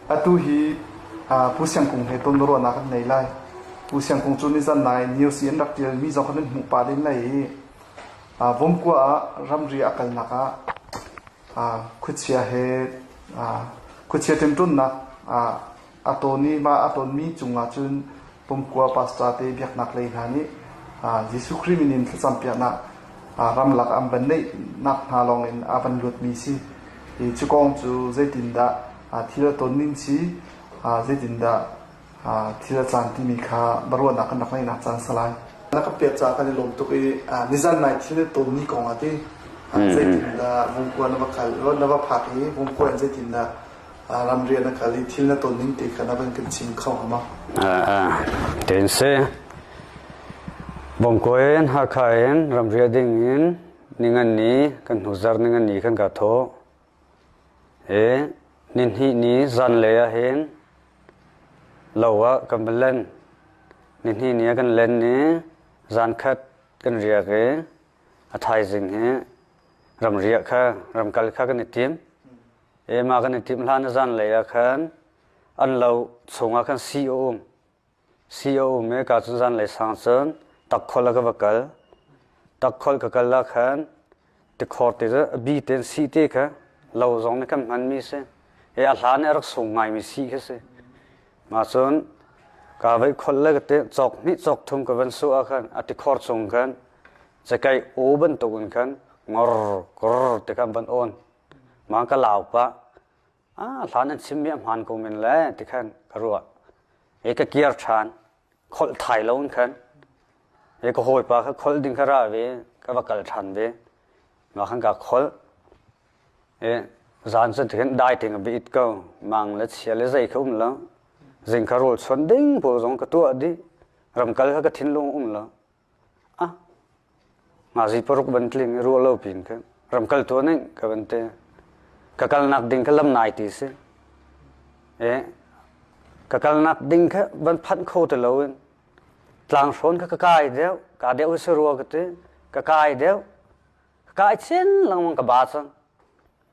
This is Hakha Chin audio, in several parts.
Atu hi Pu Siang Kung he tonruahnak an ngei lai. Pu Siang Kung cu nizan nai news i an rak ṭialmi zong khan an hmuh pah len lai i Vomkua ah ramri a kalnak ah khuachia he khuachia ṭemṭawnnak a tawn i mah a tawnmi cungah cun Pumkua pastor te biaknak lei hna nih Jesuh Khrih min in thlacam piaknak ramlak an van neihnak hna lawng in a van luatmi si. I cu kong cu zeitindah thil a tonning si, zeitindah thil a caan timi kha baruahnak kan rak ngeihnak caan salai. Na ka piat caah kan i lawm tuk i nizan nai thil a tonmi kong a ti. Zeitindah vungkua na va kal, na va phak i vungkua in zeitindah ram rian a kal i thil na ton ning te kha na van kan chim kho hama tin si bongko in hakha in ram ria ding in ningan ni kan hnuzar ningan ni kan ka tho e nin hi ni zan le a hin lowa kan len nin hi ni kan len ni zan khat kan ria ke a thai jing hi ram ria kha ram kal kha kan i tim Emah kan i timh hlan a zanlei ah khan an lo chungah khan si a um. Si a um i ka cun zanlei sang cun takkholh ah ka va kal. Takkholh ka kal ah khan tikhor ti cu a bi tein si te kha lo zong nih kan hmanmi a si. I a hlan i a rak sung ngaimi si khi a si. Mah cun ka vei kholh le ka te cawk hnih cawk thum ka van suah ah khan a tikhor chung khan cakaih aw bantukin khan ngor kor ti khan van awn. ma ka lau pah ah hlan an chim mi a hmaan ko men le ti khan ka ruah e ka kiar ṭhan kholh thai lo in khan e ka hawi pa kha kholh ding kha ra ve ka va kal ṭhan ve ma khan ka kholh e zan cu ti khan dai ting bi it ko mang le chia le zei kha um lo zing kha rul chuan ding pawl zong ka tuah dih ram kal kha ka thinlung um lo Ngazi paruk bantling i ruah lo pin ka ramkaltu nih ka van te ka kalnak ding kha lam nai ti si e ka kalnak ding kha van phanh kho ti lo in tlang hrawn kha ka kai deuh ka deuh si rua ka ti ka kai deuh ka kai chin langmang ka ba cang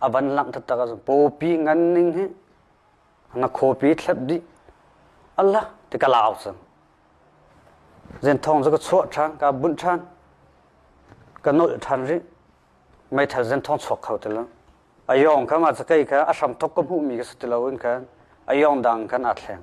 a van langh taktak ahcun pawpi ngan ning hi ngakhuapi thlet dih ala ti ka lau cang zen thong cu ka chuah ṭhan ka bunh ṭhan ka nolh ṭhan rih meithal zen thong chuak kho ti lo a yawng kha ma cakei kha a hramthok ka hmuhmi ka si ti loin khan a yawng dang khan aa thleng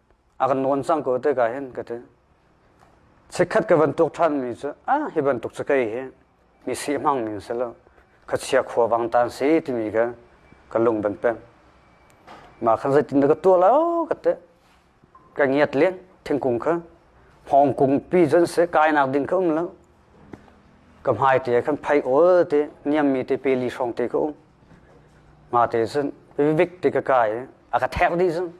a kan nawn cang ko te ka hin ka ti chikkhat ka van tuk ṭhan mi cu a hi bantuk cu kei hi mi si hmang mi si lo ka chia khua vang tan si timi ka ka lung ban pek ma khan zeitin da ka tua lo ka te ka ngiat le thingkung kha hong kung pi zan se kainak ding ka um lo ka hmai te khan phai ol te niam mi te pe li hrong te ka um Mate cun vivik ti ka kai i a ka thek dih cun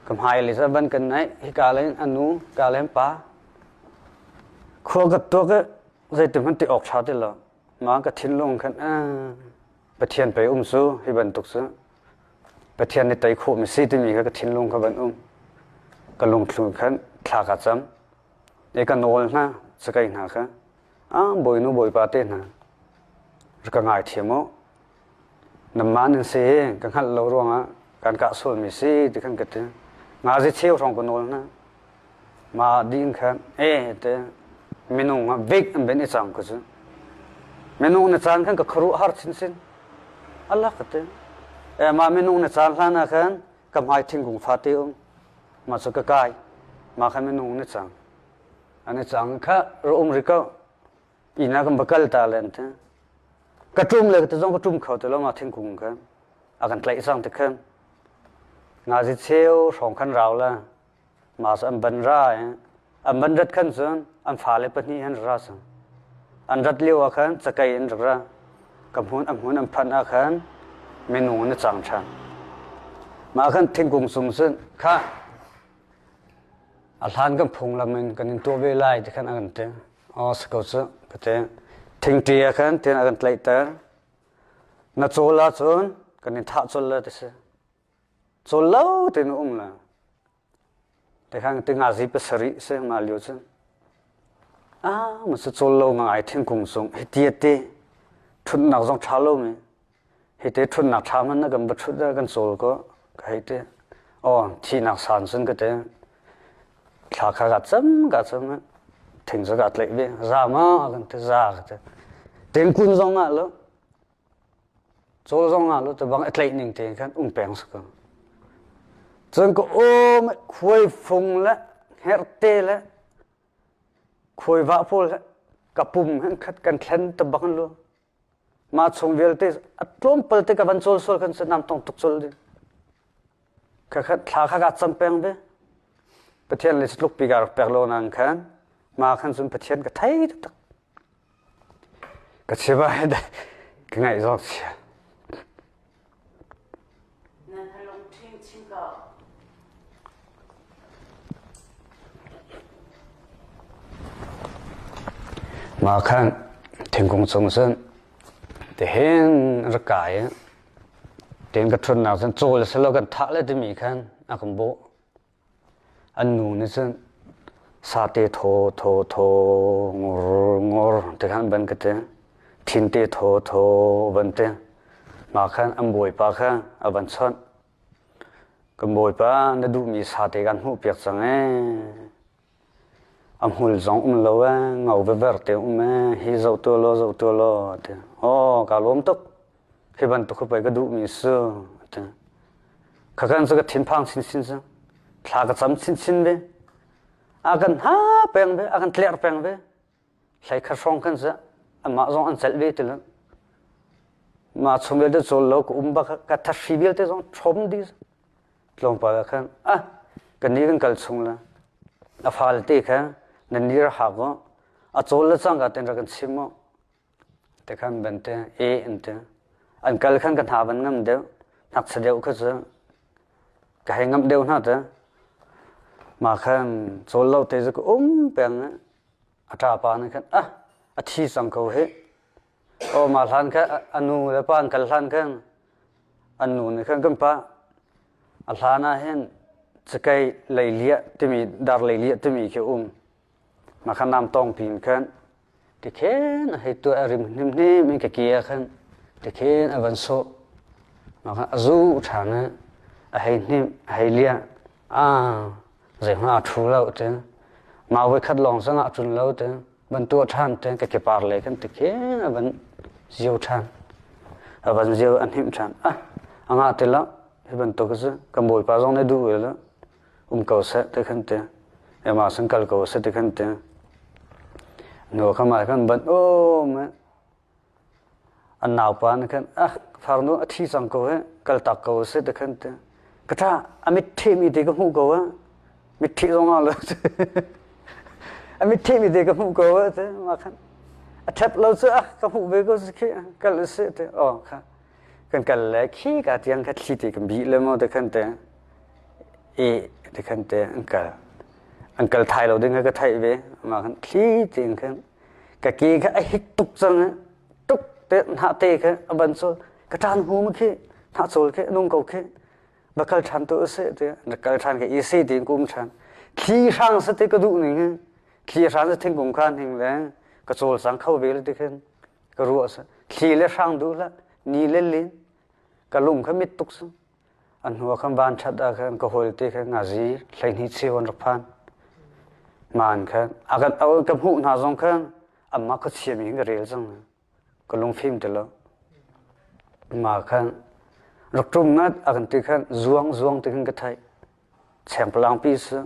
ka hmailei cu a ban kan naih. Hika lei in a nu, hika lei in pa. Khua ka tuak i zeitihmanh ti awk ṭha ti lo. Mah ka thinlung khan ah Pathian pei um su hi bantuk cu Pathian nih tei khawhmi si timi kha ka thinlung kha van um. Ka lungthlu khan thla ka cam. I ka nawl hna, sakai hna kha. ah bawinu bawipa te hna rak ka ngaithiam u nanmah nan si ka hngalh lo ruangah kan kah sualmi si ti kan ka ti ngazi cheu hrawng ka nawl na ma din khan e te minung ha big an ben i chang ku chu minung na chan khan ka khru har chin sin Allah ka te e ma minung na chan hlana khan ka hmai thingkung fa te um ma chu ka kai ma khan minung na chang Ani chang kha ra um ri ko. Ina kan bakal ta len te. Ka tum le te zong ka tum kho te lo ma thingkung ka. A kan tlaih sang te khan. Nga zi cheu hrong khan rau la. Mas an ban ra eh. An ban rat khan cun an fa le pahnih han ra sang. An rat liu ah khan chakai in rak ra. Kam hun am hun am phan ah khan menu na chang than. Ma khan thingkung sung sun kha A hlan kan phunglam in kan in tuah ve lai ti khan a kan ti. Aw si ko cu kate. Thingṭi ah khan tin a kan tlaihter. Na cawl ahcun kan in thah colh le ti si. Cawl lo tin um le. Ti khan ti ngazi pasarih si nga lio cu. Ah, ma si cawl lo nga ai thingkung sung. Hiti ati. Ṭhutnak zong ṭha lo mi. Hiti ṭhutnak thla hmanh na kan va ṭhut ah kan cawl kaw ka hei ti. Aw, thihnak san cun ka ti. Thla kha kaa cam, kaa cam i thing cu kaa tlaih ve. Za ma kan ti, za ka ti. Tingkun zong ah lo, cawl zong ah lo, tibang i tlaih ning tein khan um peng si ko. Cun ka awm i khuai fung le herte le khuai vah pawl he ka pum he khat kan thlen tibang lu. Mah chung vialte a tlawmpal te ka van cawl sual kan si nam tong tuk cul ding. Khakhat thla kha ka cam peng ve. Pathian le tluk pi ka rak pek lo nang khan ma khan cun Pathian ka thei tak. Ka chiba he da ka ngaih zawk sia. Nan halung ṭhing chin ko. Nga khan thingkung cung cun tihin rak kai i, tiin ka ṭhutnak cun cawl selaw kan thah le timi khan a kan bawh. An nu nih cun sate thawthaw ngawrngawr ti kha an ban ka ti. Thinte thawthaw van ti. Hma khan an bawipa kha a van chawnh. Kan bawipa na duhmi sate kan hmuhpiak cang ee. A hmul zong um lo ee, ngo vever te um ee, hi zoh tuah law, zoh tuah law, a ti. Aw, kaa lawm tuk. Hi bantuk khi pei ka duhmi si, a ti. Khakan cu ka thinphang chinchin si. Thla ka cam chinchin ve. A kan ha peng ve, a kan tler peng ve. Hleikhat hrawng khan cu amah zong an celh ve ti lo. Mah chung vialte cawl lo ka um bak ka thathri vialte zong ṭhawm dih. Tlawmpal ah khan ah kan ni kan kal chung le a falte kha nan nir hak u, a cawl le cangka tein rak kan chim u. Te khan ban te e an te an kal khan ka hna ban ngam deuh nak sa deuh kha cu ka hei ngam deuh hna ta ma khan chawl lo te cu ka um peng a ṭa pa nih khan ah a thi sang ko hi o ma hlan kha a nu le pa an kal hlan khan an nu nih khan kan pa a hlan ah hin cakei leiliah timi dar leiliah timi khi um Makhanam tawng pin khan tikhen a hei tuah a rim hnemhnem in ka ke ah khan tikhen a van sawh makhan a zu ṭhang i a hei hnemh a hei liah aa zeihmanh aa ṭhu lo ṭeng mau voi khat lawng zong ah a tlun lo ṭeng van tuah ṭhan ṭeng ka kepar le khan tikhen a van zio ṭhan a van zio a hnemh ṭhan ah a ngah ti lo hi bantuk a si kan bawipa zong nih duh ve lo um ko seh ti kan ti ema san kal ko seh ti kan ti nu kam ah kan ban om an nau pa na kan ah farnu a thi cang ko he kal tak ko seh ti kan ti kata amit thi mi te ka hmu ko a mit thi zong a le amit thi mi te ka hmu ko a te ma khan a thep lo chu ah ka hmu ve ko si khi kal se te o kha kan kal le khi ka tiang kha thli te kan bih le maw takhan te e takhan te an kal an kal thai lo ding kha ka theih ve ma khan thli tein khan ka ke kha a hik tuk cang tuk te hna te kha a ban sol ka tan hu ma khi hna sol khe nung ko khe ba kal than to se te na kal than ke i se tin kum than thli hrang sa te ka du ning thli hrang sa thing kum khan hing le ka chol sang kho ve le te khan ka ruah sa thli le hrang duh hlah ni le lin ka lung kha mit tuk su a hnuah khan van that ah khan ka hol te khan ngazi hleihni cheuan rak phan man khan a kan au ka hmuh hna zong khan amma ka siam in ka rel cang ka lung phim te lo ma khan rak tum na a kan te khan zuang zuang te khan ka thai cheng palang pi su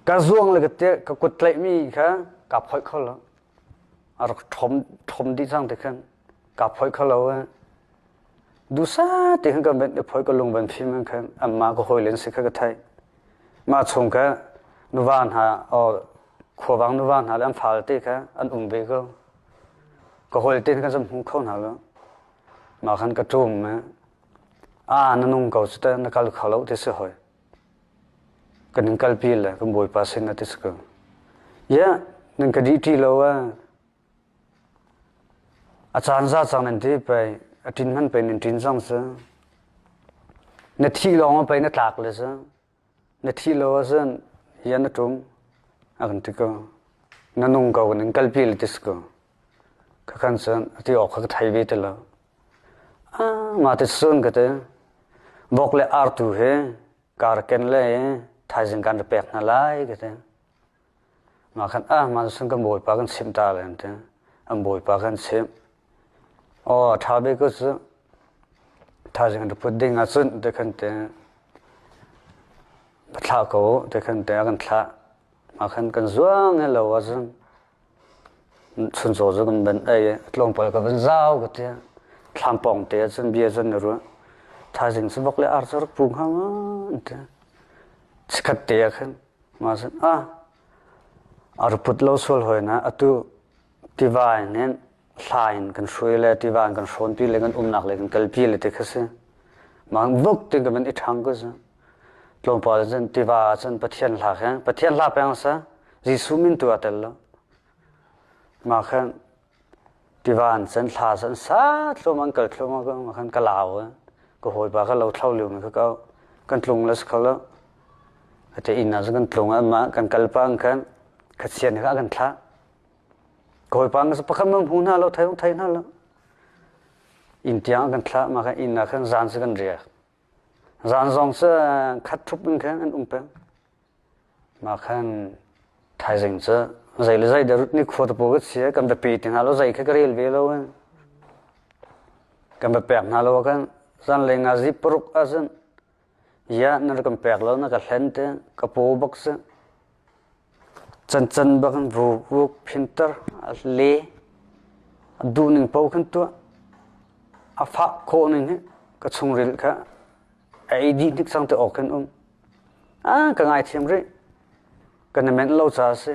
ka zuang le ka te ka kut tlaih mi kha ka phoi kho lo a rak ṭhawm dih cang tikhan kaa phoih kho lo eh. Dusa ti khan kan van i phoih ka lung van phim in khan anmah ka hawi len si kha ka theih. Mah chung ka nuva hna or khuavang nuva hna le an fal te kha an um ve ko. Ka hawi te khan sam hmu kho hna lo. Mah khan ka ṭum eh. A na nung ko cu ta na kal kho lo ti si hoi. Kan in kalpi le kan Bawipa sin a ti ka. Yeah, nan ka dih ṭi lo a. A caan za cang nan ti pei, a ṭin hman pei nan ṭin zang sa. Na thi lawng a pei na tlak le sa. Na thi lo a san, hian na ṭum. A kan ti ka. Na nung ko kan in kalpi le ti ka. Ka kan san, a ti awk ka thai ve te la. Mah tit cun ka ti vok le artu hi kaa rak ken le i thaizing kan ra pek hna lai ka ti. Mah khan mah cu cun kan bawipa kan chimh ta lai an ti. An bawipa kha an chimh. Aw a ṭha bik cu cu thaizing an ra put ding ahcun ti khan ti va thlah ko u ti khan ti a kan thlah. Mah khan kan zuang i lo ahcun Chuncaw cu kan van ei i tlawmpal ka van zau ka ti. Thlam pawng te ahcun bia cun na ruah. Thaizing cu vok le ar cu rak pu hnga ma an ti. Chikkhat te ah khan ma cun ah a rak put lo sual hawi na atu tiva in hin hla in kan hruai le tiva in kan hrawnpi le kan umnak le kan kalpi le ti kha si. Ma vok ti ka van i ṭhang ku cu. Tlawmpal cun tiva ah cun Pathian hla khe Pathian hla peng sa Jesuh min tu a tel lo. Ma khan tiva an cun hla cun sa thlum an kal thlum ma khan ka lau ka hawipa ka lo thlau liu ka kau kan tlung la sa lo ate inn ah kan tlung amma kan kal pang khan khachian ka kan thla koi pang sa pakhat ma hmu na lo thai thai na lo in tiang kan thla ma kan inn ah khan zan se kan ria Zan zong cu khat ṭhup in khan an um peng. Mah khan thaizing cu zei le zei dah rut nikhua tapaw ka si kan va pe ti hna lo, zei kha ka rel ve lo eh. Kan va pek hna lo ah khan zanlei nga zi paruk ah cun, ia na rak kan pek lo na ka hlen te, ka paw bak si. Cancan bak in vawuk phinter a le a duhning paoh khin tuah. A fah khawh ning hi ka chungril kha a ei dih hnik sang te awk khin um. A ka ngaithiam rih. Ka na menh lo ca a si.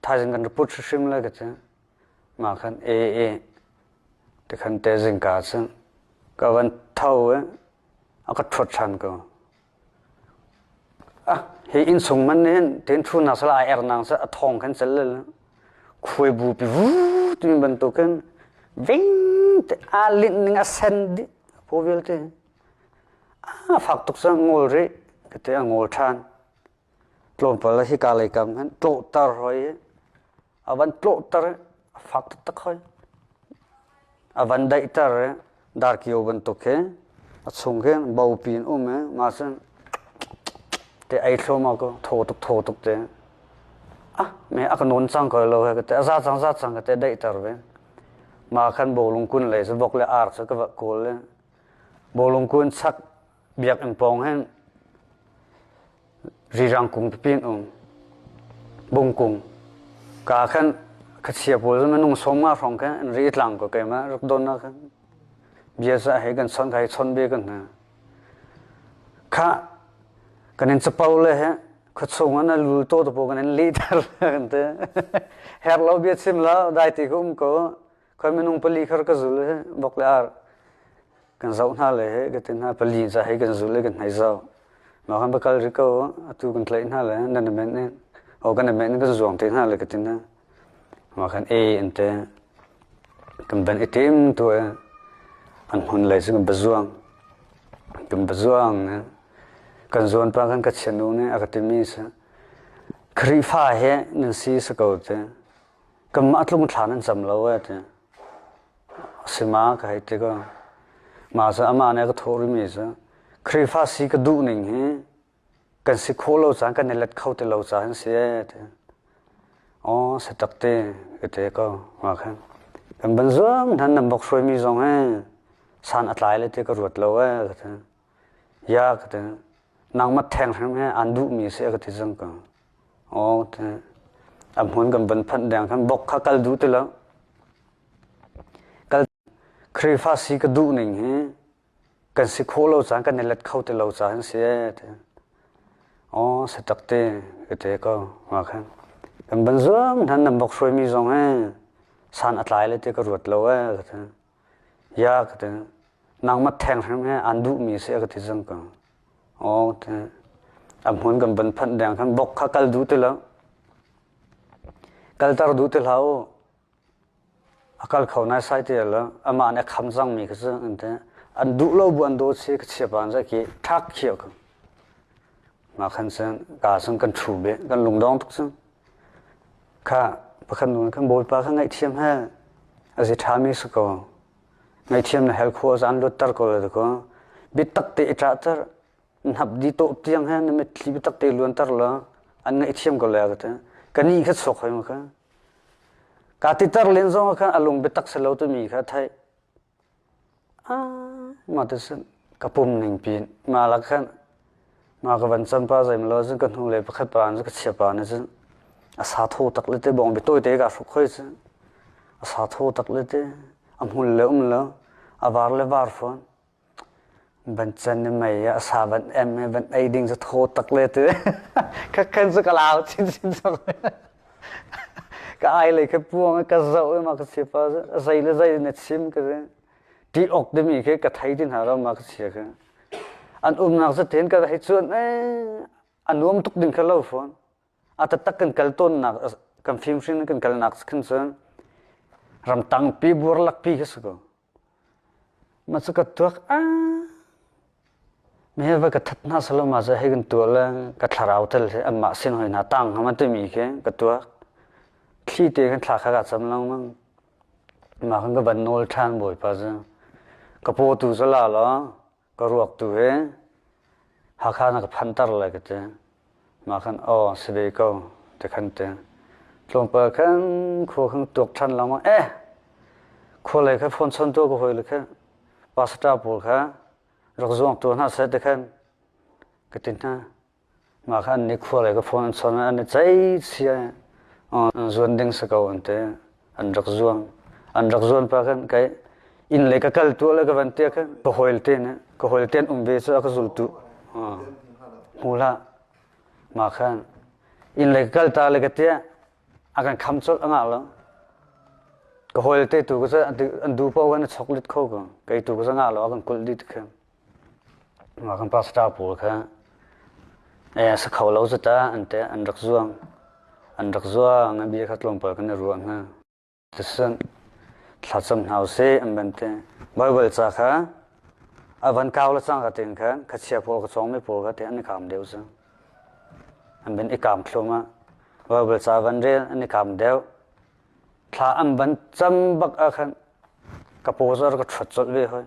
Thaizing kan report hrim lai ka cang. Ma khan e e te khan te zing ka cang. Ka van tho e a ka thuat than ko. Hi innsung man nih hin ṭenṭhunnak sal aa ernak cu a thawng khan cel le khuai bu pi vuu timi bantukin vengte aa linh ning a sen dih phaw vialte. A fak tuk cu ngol rih kate a ngol ṭhan. Tlawmpal hika lei kam khan ṭawhter hoi hi. A van tlawhter a fak taktak hoi. A van daihter darkio bantuk hi a chung khi bopi in um i nga sin te ei thluam ah ko thaw tuk thaw tuk te ah me a ka nawn cang ko lo he te a za cang za cang te daihter ve ma khan bolung kun le se bok le ar se ka va kawl le bolung kun chak Biakinn pawng hin rirang kung pipin um bung kung ka khan khasia pawl minung sawma hrawng khan an ri tlang ko keima rak don na khan bia sa he kan san kai chon be kan na kha kanin chapau le he khachung an lul to to po kanin li tar kan te her lo bia chim lo dai ti kum ko Khoi minung pali khar ka zul hi bok le ar kan zoh hna le he ka tin hna pali za he kan zul le kan hnai zau. Ma kan bakal ri ko atu kan tlai hna le nan na men ne o kan na men kan zuang te hna le ka tin na ma kan e in te kan ban itim tu e an hun lai su kan bazuang kan bazuang ne kan zuan pa kan ka chianu ne a ka timi sa khrifa he nan si sa ko te Kanmah tlung thlaan an cam lo a ti. A si ma ka hei ti ko. Mah cu amah nih a ka thawh rimi cu Khrihfa si ka duh ning hi kan si khawh lo caan kan i let kho ti lo caan an si ee ti. Aw si tak ti ka ti ko ma khan. Kan ban zuam than nan bok hruaimi zong he san a tlai le ti ka ruat lo ee ka ti. Ya ka ti. Nangmah theng hrim hi an duhmi si a ka ti cang ko. Aw ka ti. A hmun kan van phanh deng khan bok kha kal duh ti lo. Kal Khrihfa si ka duh ning hi kan si kho lo caan kan i let kho ti lo caan si e ti. Aw se tak ti ka ti ko ma khan. Kan ban zuam nan nan bok hruaimi zong he san a tlai le ti ka ruat lo e ka ti. Ya ka ti. Nangmah theng hrim hi an duhmi si a ka ti zang ka. Aw ka ti. A hmun kan van phanh deng khan bok kha kal du ti lo. Kaltar du ti hlau. A kal kho nai sai ti lo. Ama an kham zangmi ka zang an ti. An duh lo bu an do si ka chia pan za ki thak khio ka. Ma khan sen ka sun kan thu be kan lungdong tuk sun. Kha pakhat nun kan Bawipa kha ngaihthiam he a zi ṭhami si ko. Ngaihthiam na hel khawh zan lutter ko la kaw bitak te i ṭahter hnap di tawh tiang he na mitthli bitak te luanter law an ngaihthiam ko le ka te ka ni kha chawk hoi ma ka ka titer len zong kha a lung bitak si lo timi kha theih Mah ti sin ka pum ning pin mah lak khan mah ka van can pa zeimlaw cun ka hnulei pakhat pa in ka chiah pa nih cun a sa thaw tak le te bawng biatawi te kaa hruk hoi cu a sa thaw tak le te a hmul le um lo a var le var fawn. Van can na mei a sa van em van ei ding cu thaw tak le tu ka kan su ka lau chin chin sok ka ai le ka puang ka zau ma ka si pa zai le zai na chim ka ti ok de mi ke ka thai din ha ro ma ka si ka an um nak zu ten ka hei chuan eh an nuam tuk ding ka lo phone ata tak kan kal ton nak kan film hrin kan kal nak kan chuan ram tang pi buar lak pi ka su ko Mah cu ka tuak ah meheh va ka that hna selaw mah cu hei kan tuah le ka thlarau tal hi anmah sin hoi hna tang hngam an timi khi ka tuak. Thli te kan thla kha ka cam lengmang. Mah kan ka van nawl ṭhan Bawipa cu. Ka paw tu cu la law Ka ruak tu hi Hakha na ka phanter lai ka ti. Mah khan aw si ve ko ti khan ti. Tlawmpal khan khua khan tuak ṭhan lama eh khua lei kha phone chon tu ka hoi le kha pastor pawl kha rak zuang tu hna sai ti khan ka tin hna. Mah kha an i khualei ka phone an chawn i an i ceihcia i zuan ding si ko an ti. An rak zuam. An rak zuan pa khin kei inn le ka kal tuah le ka van tiah khin ka hawite nih ka hawite an um ve cu a ka zultu hmu hlah. Mah khan inn le ka kal ta le ka tiah a kan kham colh a ngah lo. Ka hawite tu cu an duh paoh khan a choklit kho ko. Kei tu cu ngah lo a kan kulh dih ti khi. Mah kan pastor pawl kha sa kho lo zat ah an rak zuang. An rak zuang i bia kha tlawmpal kan i ruah hna. Tisan thla cam hna u sih an van ti. Baibal ca kha a van kau le cang ka tin kha ka chia pawl ka chawngmi pawl kha te an i kaam deuh cang. An van i kaam thlum ah Baibal ca van rel an i kaam deuh. Thla an van cam bak ah khan ka pawzar ka ṭhuat colh ve hoi.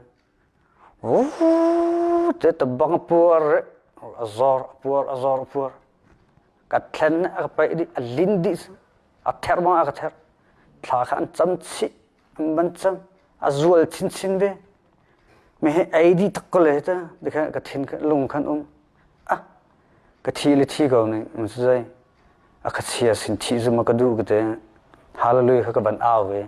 Cuti bang a puar i a zawr, a puar, a zawr, a puar. Ka thlen nih a ka paih dih, a lin dih, a therh bang ah a ka therh. Thla kha an cam chih, an van cam, a zual chinchin ve. Hihi ei dih tak ko le hi ta, tikhan ka thin, lung khan um. Ah, ka thi le thi ko ning, in cu zei. A ka chia sin thih zumh a ka duh ka ti. Hallelujah kha ka van au ve.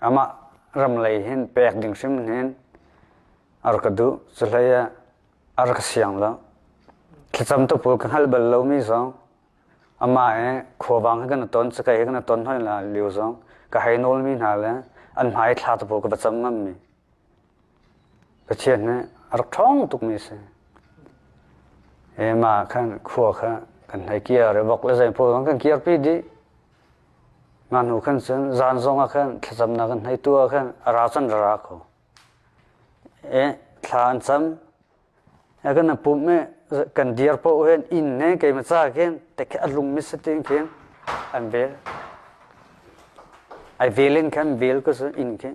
amah ram lei hin pek ding hrimhrin a rak ka duh. Cuhlei ah a rak ka siang lo. Thlacam tupul ka hngalh bal lomi zong amah i khuavang hi kan i ton, cakei hi kan i ton hoi la lio zong ka hei nawlmi hna le an hmai thla tupul ka va cam ngammi Pathian nih a rak ṭhawng tukmi a si. Ema khan khua kha kan hei kiar i vok le zeipawl khan kan kiarpi dih. Mah hnu khan cun zan zong ah khan thlacamnak kan hei tuah khan a ra cun ra ra ko. E, thla an cam. a kan pum e kan dir poh hen inn ne keima ca khin teke a lung mi satin khin an vel ai vel in khan vel ka su inn khi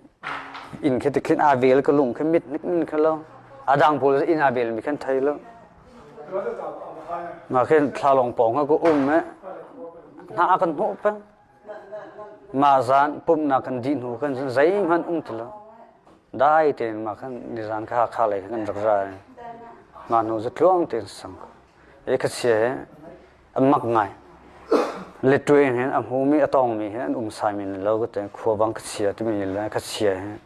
inn khi tikhin a vel ka lung khi mit nik nin kha lo a dang pol inn a vel mi khan thai lo ma khin thlalong pong ha ku um e na kan hmu pe Mah zan pumhnak kan dih hnu khan cun zeihmanh um ti lo. Dai tein mah khan nizan kha Hakha lei khan kan rak ra i ngaknu cu tluang tein a sang. I khuachia hi an mak ngai. Liṭuai hin a hmumi a tawngmi hi an um sai men lo. Khuabang khuachia timi le khuachia hi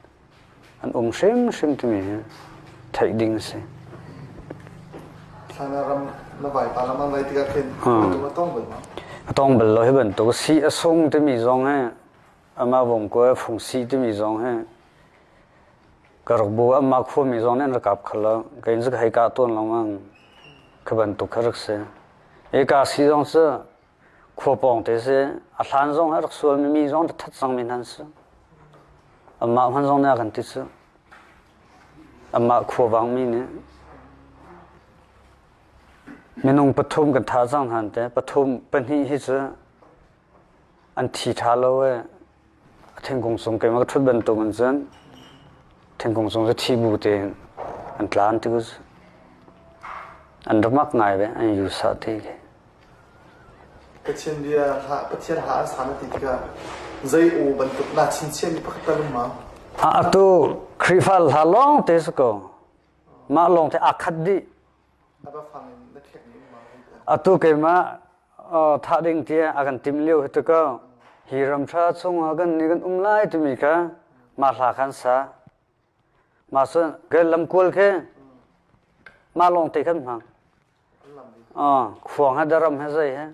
an um hrimhrim timi hi theih ding a si. China ram na vaipa lam an vai tikah khin a tong bal ma? A tong bal lo hi bantuk si a sung timi zong he ama vom ko phung si timi zong he karok bu amma khua mi zong nen rakap khala kain zak hai ka ton long ang ka bantuk kharak se e ka si zong sa khua pawng te si a hlan zong a rak sualmi mi zong rak that cangmi hna an si amah hman zong nih a kan ti cu amah khuavangmi nih minung pathum kan tha cang hnan te pathum pahnih hi cu an thi tha lo e thingkung sung keimah ka thut bantuk in cun thingkung sung cu thi bu tein an tlan ti ku an rumak ngai ve an yu sah ti ki Pathian bia ha Pathian ha an sana ti tikah zei u bantuk na chinchian mi pakhat talum ma a atu Khrihfa hla lawng te su ko mah lawng te akhat dih Atu keimah thah ding tiah a kan tim lio hi tu ko hi ram ṭha chungah kan ni kan um lai timi kha mah hla khan sa. Mah cun kan lamkual khi mah lawng te khan hmang. Khuang he daram he zei he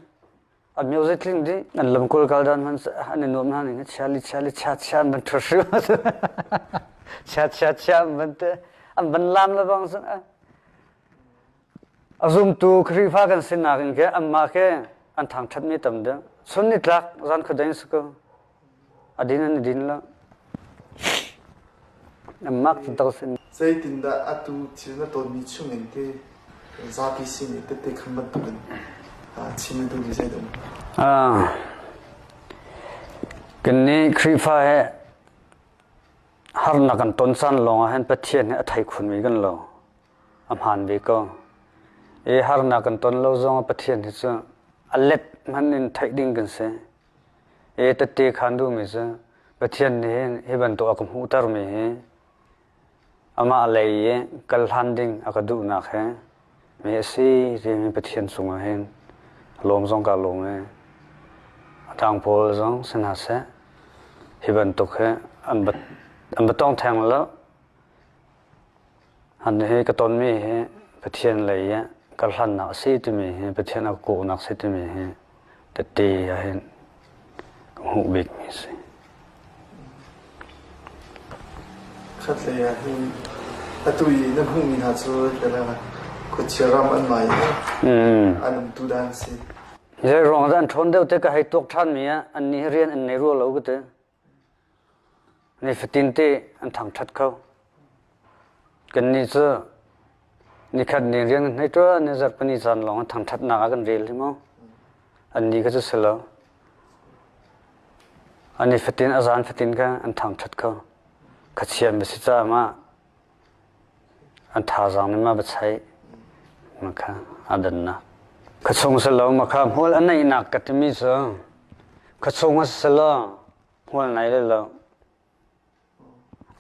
A myo zei tling dih an lamkul kal dan hman an i nuam hna nih chia li chia li chia chia an van thur hrim chia chia chia an van te an van lam le bang sun a zumtu Khrihfa kan sinak in ke anmah ke an thang that mi tam deuh sun ni tlak zan khudain su ko Zeitindah atu thil na tawnmi chungin te zapi sin i tette khan bantukin chim na duhmi zei dah? Kannih Khrihfa he harnak kan ton san lawngah hin Pathian he a thei khunmi kan lo. A hmaan ve ko. I harnak kan ton lo zongah Pathian hi cu a let hman in theih ding kan si. E tette khan duhmi cu Pathian nih hi bantuk a ka hmuhtermi hi amah lei i kal hlan ding a ka duhnak hi mi a si timi Pathian cungah hin a lawm zong kaa lawm i a ṭang pawl zong si hna seh hi bantuk hi an va tong theng lo. An hi ka tonmi hi Pathian lei i karhlannak a si timi hi Pathian a kawhnak a si timi hi tete ah hin ka hmuh bikmi a si. Khatlei ah hin atu i na hmuhmi hna cu khuachia ram an mai i an umtu daan a si. Zeiruang ah an ṭhawn deuh te ka hei tuak ṭhanmi ah an nih hi rian an nei rua lo ka ti. Nifatin te an thangṭhat kho. Kannih cu nikhat ni rian kan hei ṭuan i zarh pahnih caan lawng ah thangṭhatnak ah kan rel hi maw. Annih kha cu si lo. A nifatin a zaan fatin kha an thangṭhat kho. Khachian va si caah mah A thazaang nih ma va chaih makha a dannak. Ka chung si lo makha hmual a neihnak ka timi cu ka chung a si lo hmual nei le lo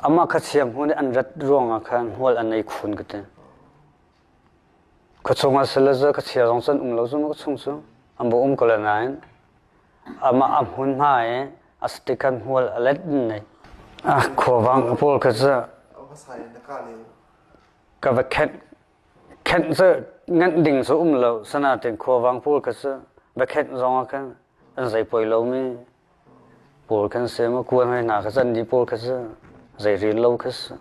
amah kha chia hmu nih an rat ruangah khan hmual a nei khun ka ti. Khua chung ah sal le zal ka chia zong cu an um lo zungzal khua chung cu an bu um ko lo nain amah a hmun hna i a sticker hmual a let in nei. Ah, khuavang a pawl kha cu ka va khenh khenh cu nganh ding cu um lo sanatin khuavang pawl kha cu va khenh zong ah khan an zei poi lomi Paul khan sem a kuan hoi hna kha can i Paul kha cu zei rian lo kha cu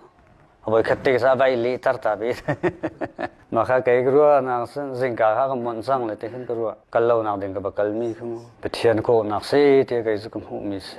a voikhat te sa vai lehter ta ve. Mah kha kei ka ruahnak cu zingka kha ka mawnh cang le ti khin ka ruah. Kal lonak ding ka va kalmi kha mu. Pathian kawhnak si tiah kei cu ka hmuhmi si.